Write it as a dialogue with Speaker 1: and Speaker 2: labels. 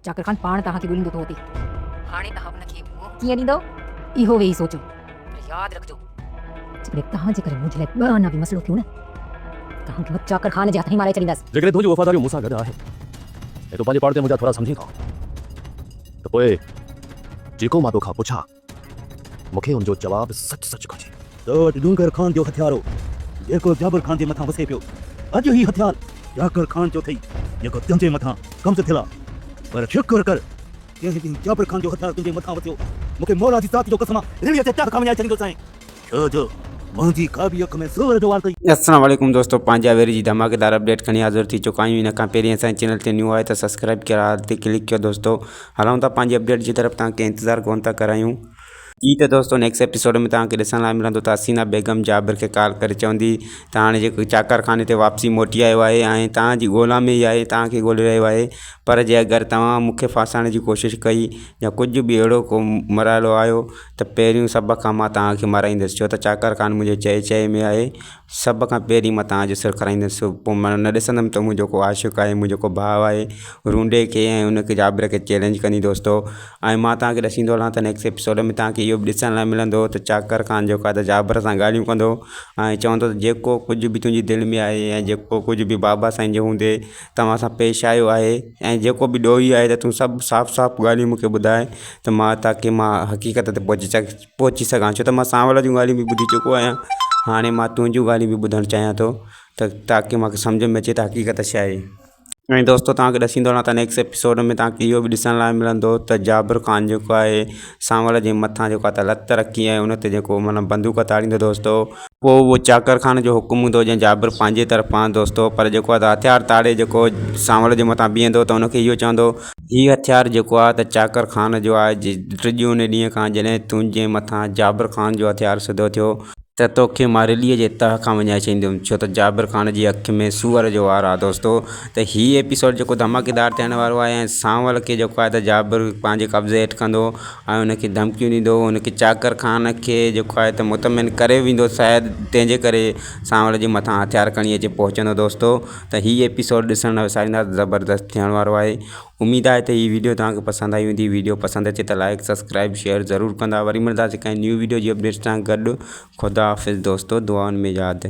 Speaker 1: چاڪر خان پاڻ توهان کي ڳوليندو ٿو اتي. هاڻي توهان ان کي منهن ڪيئن ڏيندؤ؟ اهو ويهي سوچيو. پر ياد رکجو. جيڪڏهن توهان جي ڪري منهنجي لاء ٻه آنا به مسئلو ٿيون نه ته توهان کي مان چاڪر خان جي هٿ هين مارائي ڇڏيندس. جيڪڏهن تنهنجون وفاداريون مون سان گڏ
Speaker 2: آهن ۽ تون پنهنجي پاڙ تي منهنجا ٿورا سمجهين ٿو ته پوء جيڪو مان توکان پڇان مون کي ان جو جواب سچ سچ گهرجي. تو وٽ ڏونگر خان جو هٿيار هو، جيڪو جابر خان جي مٿان وسي پيو. اڄ هي هٿيار جاکر خان جو اٿئي، جيڪو تنهنجي مٿان قبض ٿيل آ. پر شڪر ڪر، جنهن ڏينهن جابر خان جو هٿيار تنهنجي مٿان وسيو، مون کي مولا جي ذات جو قسم آ، ريڙهيء تي ٽهڪا وڃائي ڇڏيندوسانء. ڇو جو منهنجي ڪا به اک ۾ سور جو وار ڪئي. السلام عليڪم دوستو
Speaker 3: پنهنجا ويري جي ڌماڪيدار اپڊيٽ کڻي حاضر ٿي چڪا آهيون ان کان پهرين اسان جي چينل تي نيو آهيو ته سبسڪرائيب ڪيو آل تي ڪلڪ ڪيو دوستو هلون ٿا پنهنجي اپڊيٽ جي طرف توهان کي انتظار ڪونه ٿا ڪرايون جي ته دوستو نيڪسٽ ايپيسوڊ ۾ توهان کي ڏسڻ لاء ملندو ته حسينا بيگم جابر کي ڪال ڪري چوندي ته هاڻي جيڪو چاڪر خاني تي واپسي موٽي آيو آهي ۽ توهان جي ڳولا ۾ ئي آهي توهان کي ڳولي رهيو آهي پر جي اگر توهان مون کي ڦاسائڻ جي ڪوشش ڪئي يا ڪجهه به اهڙو ڪو مراحلو آيو ته پهريون سڀ کان مان توهان کي مارائيندس ڇو ته چاڪر خان منهنجي چئي چئي ۾ آهي سڀ کان پهرين مان توهان جو سر کڻائيندس پوء مان نه ڏسندم ته منهنجو ڪو عاشق آهي منهنجو ڪو ڀاء آهي رونڊي کي ۽ ان کي جابر کي چئلينج ڪندي دوستو ۽ مان توهان کي ڏسيندو هلان ته نيڪسٽ ايپيسوڊ ۾ توهان کي اهو به ڏسڻ لاء ملندو ته چاڪر خان جيڪو آهي ته جابر سان ڳالهيون ڪندو ۽ چوندو ته جيڪو ڪجهه به تنهنجي دل ۾ آهي ۽ جيڪو ڪجهه به بابا سائين جي هوندي توهان سان پيش آيو آهي ۽ جيڪو به ڏوهي آهي ته تون سڀ صاف صاف ڳالهيون مونکي ٻڌاء ته مان تاڪي مان حقيقت تي پهچي سگهان پهچي سگهان ڇو ته مان سانول جون ڳالهيون به ٻڌي چڪو آهيان هاڻي مان تنهنجون ڳالهيون به ٻڌڻ چاهيان ٿو ته تاڪي مونکي سمجهه ۾ اچي ته حقيقت ڇا آهي ۽ دوستو توهان کي ڏسيندو رهان ته نيڪسٽ ايپيسوڊ ۾ توهان کي اهو به ڏسڻ لاء ملندو ته جابر خان جيڪو آهي سانوڻ جي مٿان جيڪو آهي لت رکي ۽ ان تي جيڪو معنيٰ بندوق تاڙيندو دوستو، پوء اهو چاڪر خان جو حڪم هوندو جنهن جابر پنهنجي طرفان دوستو پر جيڪو آهي هٿيار تاڙي جيڪو سانوڻ جي مٿان بيهندو ته ان کي اهو چوندو، هي هٿيار جيڪو آهي ته چاڪر خان جو آهي ٽجي ان ڏينهن کان جڏهن تنهنجي مٿان جابر خان جو هٿيار سڌو ٿيو. ته توکي ماريليء جي تهه کان وڃائي ڇڏينديم ڇو ته جابر خان جي اک ۾ سوئر جو وار آ دوستو ته هي ايپيسوڊ جيڪو ڌماڪيدار ٿيڻ وارو آهي ۽ سانول کي جيڪو آهي ته جابر پنهنجي قبضي هيٺ ڪندو ۽ ان کي ڌمڪيون ڏيندو ان کي چاڪر خان کي جيڪو آهي ته مطمئن ڪري ويندو شايد تنهن جي ڪري سانول جي مٿان هٿيار کڻي اچي پهچندو دوستو ته هي ايپيسوڊ ڏسڻ لاء وساريندا زبردست ٿيڻ وارو آهي اميد آهي ته هي ويڊيو توهان کي پسند آئي هوندي ويڊيو پسند اچي ته لائيڪ سبسڪرائيب شيئر ضرور ڪندا وري ملنداسين ڪنهن نيو ويڊيو جي اپڊيٽس سان گڏ خدا حافظ دوستو دعائن ۾ ياد